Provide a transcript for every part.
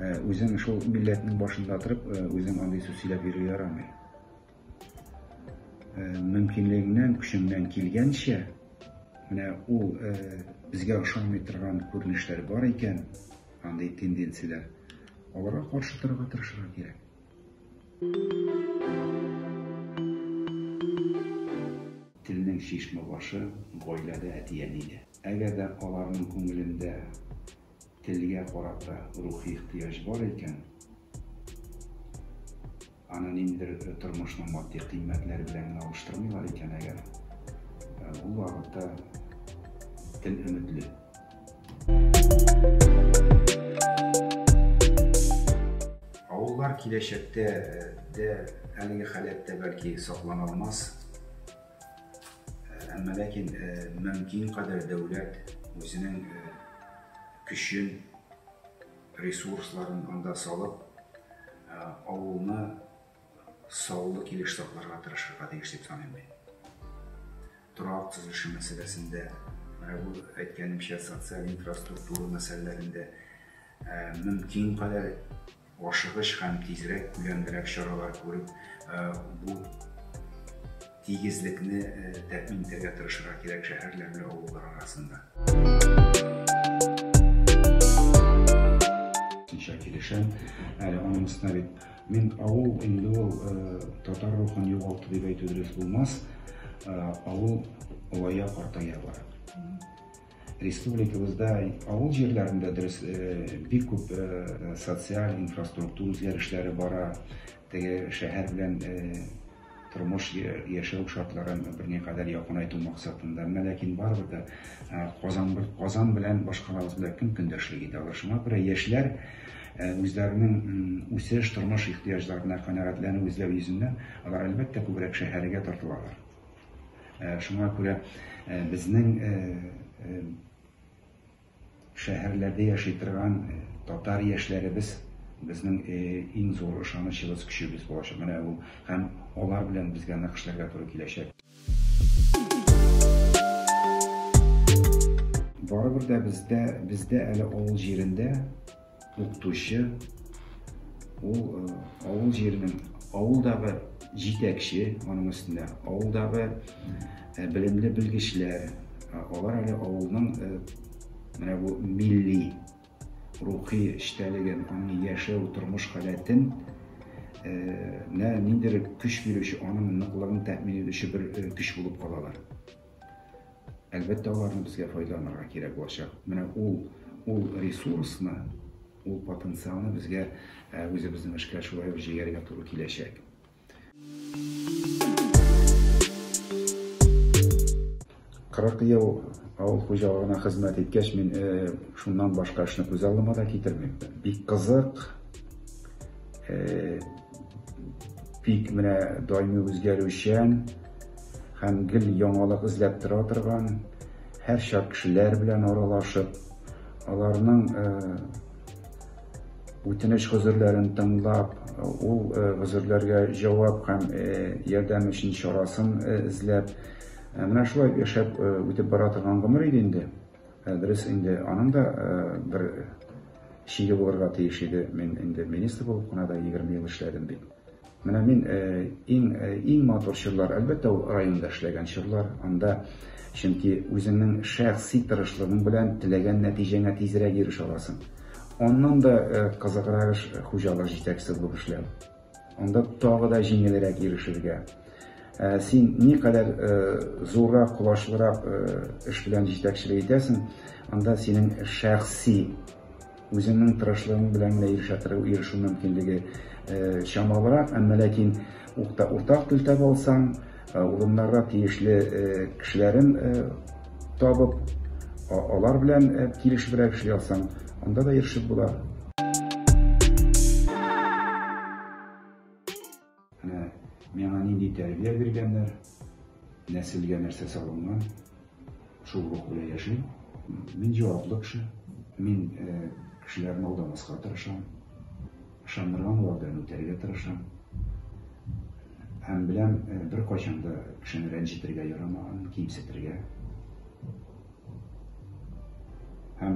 Үзең шул милләтнең башында торып, үзең андый сүз сөйләп йөрү ярамый. Мөмкинлегеңнән, көчеңнән килгәнчә, менә ул безгә ошамый торган күренешләр бар икән, андый тенденцияләр, аларга каршы торырга тырышырга кирәк. Телнең чишмә башы гаиләдә, әти-әнидә. Әгәр дә аларның күңелендә Телгә карата рухи ихтыяҗ бар икән, аны ниндидер тормышның матди кыйммәтләре белән генә алыштырмыйлар икән әгәр, ул вакытта тел өметле. Авыллар киләчәктә дә әлеге халәттә, бәлки, саклана алмас. Әмма ләкин мөмкин кадәр дәүләт үзенең көчен, ресурсларын анда салып, авылны саллы килеш сакларга тырышырга тиеш дип саныйм мин. Торак төзелеше мәсьәләсендә, менә бу әйткәнемчә, социаль инфраструктура мәсьәләләрендә мөмкин кадәр Ашыгыч һәм тизрәк, күләмлерәк чаралар күреп, бу тигезлекне тәэмин итәргә тырышырга кирәк шәһәрләр белән авыллар арасында. Тулысынча килешәм. Әле аның өстенә бит мин авыл инде ул татар рухын югалты дип әйтү дөрес булмас. Авыл олая, картая бара. Республикабызда авыл җирләрендә дөрес бик күп социаль, инфраструктур үзгәрешләре бара. Теге шәһәр белән тормыш, яшәү шартларын берникадәр якынайту максатында. Менә ләкин барыбер дә Казан, Казан белән башкалабыз белән кем көндәшлек итә алыр? Шуңа күрә яшьләр үзләренең үсеш, тормыш ихтыяҗларына канәгатьләнү эзләү йөзеннән алар, әлбәттә, күбрәк шәһәргә тартылалар. Шуңа күрә безнең шәһәрләрдә яши торган татар яшьләребез безнең иң зур ышанычыбыз, көчебез булачак. Менә ул һәм алар белән безгә нык эшләргә туры киләчәк. Барыбер дә бездә, бездә әле авыл җирендә, Укытучы ул э, авыл җиренең авылдагы җитәкче, аның өстендә авылдагы э, белемле белгечләр, алар әле авылның э, менә бу милли рухи эчтәлеген, аның яшәү, тормыш халәтен нә ниндидер көч бирүче, аның ныклыгын тәэмин итүче бер көч булып калалар. Әлбәттә, аларны безгә файдаланырга кирәк булачак. Менә ул, ул ресурсны, ул потенциалны безгә үзебезнең эшкә шулай ук җигәргә туры киләчәк. Кырык ел авыл хуҗалыгына хезмәт иткәч, мин шуннан башка эшне күз алдыма да китермим. Бик кызык, бик менә даими үзгәрүчән, һәм гел яңалык эзләп тора торган, һәрчак кешеләр белән аралашып, аларның үтенеч-гозерләрен тыңлап, ул гозерләргә җавап һәм ярдәм өчен чарасын эзләп, менә шулай яшәп үтеп бара торган гомер иде инде. Дөрес инде, аның да бер чиге булырга тиеш иде. Мин инде министр булып кына да 20 ел эшләдем бит. Менә мин иң иң матур чорлар, әлбәттә, ул районда эшләгән чорлар. Анда, чөнки үзеңнең шәхси тырышлыгың белән теләгән нәтиҗәңә тизрәк ирешә аласың. Аннан да кызыграк эш хуҗалык җитәкчесе булып эшләү. Анда тагы да җиңелрәк ирешергә. Син никадәр зуррак, колачлырак эш белән җитәкчелек итәсең, анда синең шәхси Үзеңнең тырышлыгың белән генә ирешәтыры ирешү мөмкинлеге чамалырак, әмма ләкин ук та уртак тел таба алсаң, урыннарда тиешле кешеләрен табып, алар белән килешебрәк эшли алсаң, анда да ирешеп була. Менә миңа нинди тәрбия биргәннәр, нәселгә нәрсә салынган, шул рух белән яшим. Мин җаваплы кеше. Мин кешеләрне алдамаска тырышам. Ышандырган алардан үтәргә тырышам. Һәм беләм, беркайчан да кешене рәнҗетергә ярамаган, кимсетергә. Һәм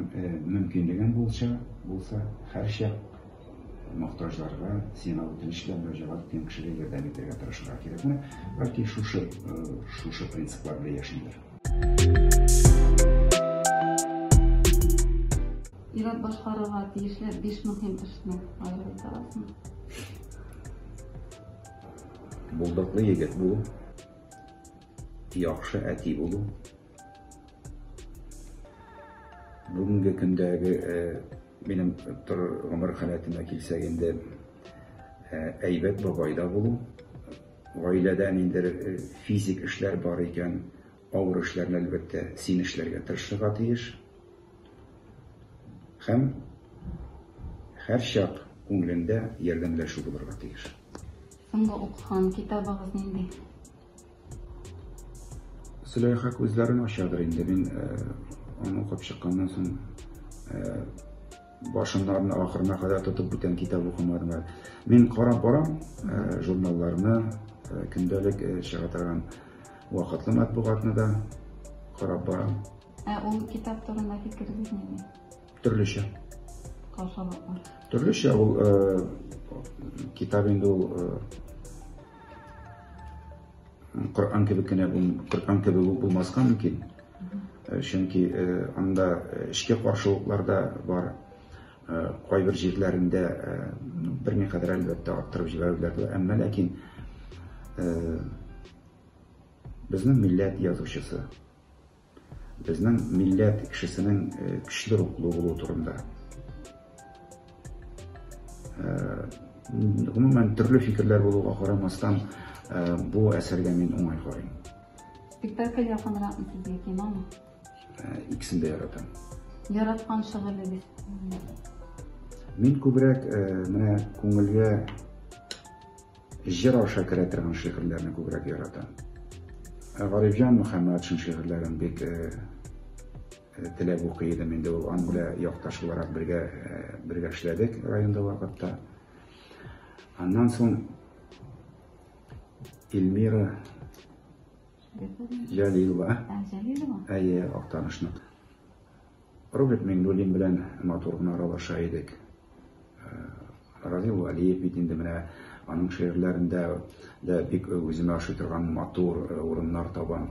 мөмкинлегең булча, булса, һәрчак мохтаҗларга, сиңа үтенеч белән мөрәҗәгать иткән кешегә ярдәм итәргә тырышырга кирәкме? Бәлки шушы, шушы принциплар белән яшимдер. Ират башкарырга тиешле биш мөһим эшне аерып торасыңмы? Булдыклы егет булу, яхшы әти булу, Бүгенге көндәге минем гомер халәтемә килсәк инде, әйбәт бабайда булу, гаиләдә ниндидер физик эшләр бар икән, авыр эшләрне, әлбәттә, син эшләргә тырышырга тиеш. Һәм һәрчак күңелендә ярдәмләшү булырга тиеш. Соңгы укыган китабыгыз нинди? Зөләйха күзләрен ачадыр инде. Мин аны укып чыкканнан соң башыннан ахырына кадәр тотып бүтән китап укымадым әле. Мин карап барам журналларны, көндәлек чыга торган вакытлы матбугатны да карап барам. Ә ул китап турында фикерегез нинди? Төрлечә. Каушаулык бар. Төрлечә ул китап инде ул Коръән кебек кенә Коръән кебек үк булмаска мөмкин. Э, чөнки э, анда э, эчке каршылыклар да бар. Кайбер җирләрендә берникадәр әлбәттә арттырып җибәрүләр дә, әмма ләкин безнең милләт язучысы Безнең милләт кешесенең көчле рухлы булуы турында. Гомумән, төрле фикерләр булуга карамастан, бу әсәргә мин уңай карыйм. Спектакль якынракмы сезгә, киномы? Икесен дә яратам. Яраткан шөгылегез? Мин күбрәк менә күңелгә Җыр аша керә торган шигырьләрне күбрәк яратам. Ә Гарифҗан Мөхәммәтшин шигырьләрен бик теләп укый идем. Инде ул ан белән якташ буларак бергә бергә эшләдек районда вакытта. Аннан соң Эльмира Җәлилова. Җәлилова? Әйе, Актанышның. Роберт Миңнуллин белән матур гына аралаша идек. Равил Валиев бит инде менә аның шигырьләрендә дә бик үземә ошый торган матур урыннар табам.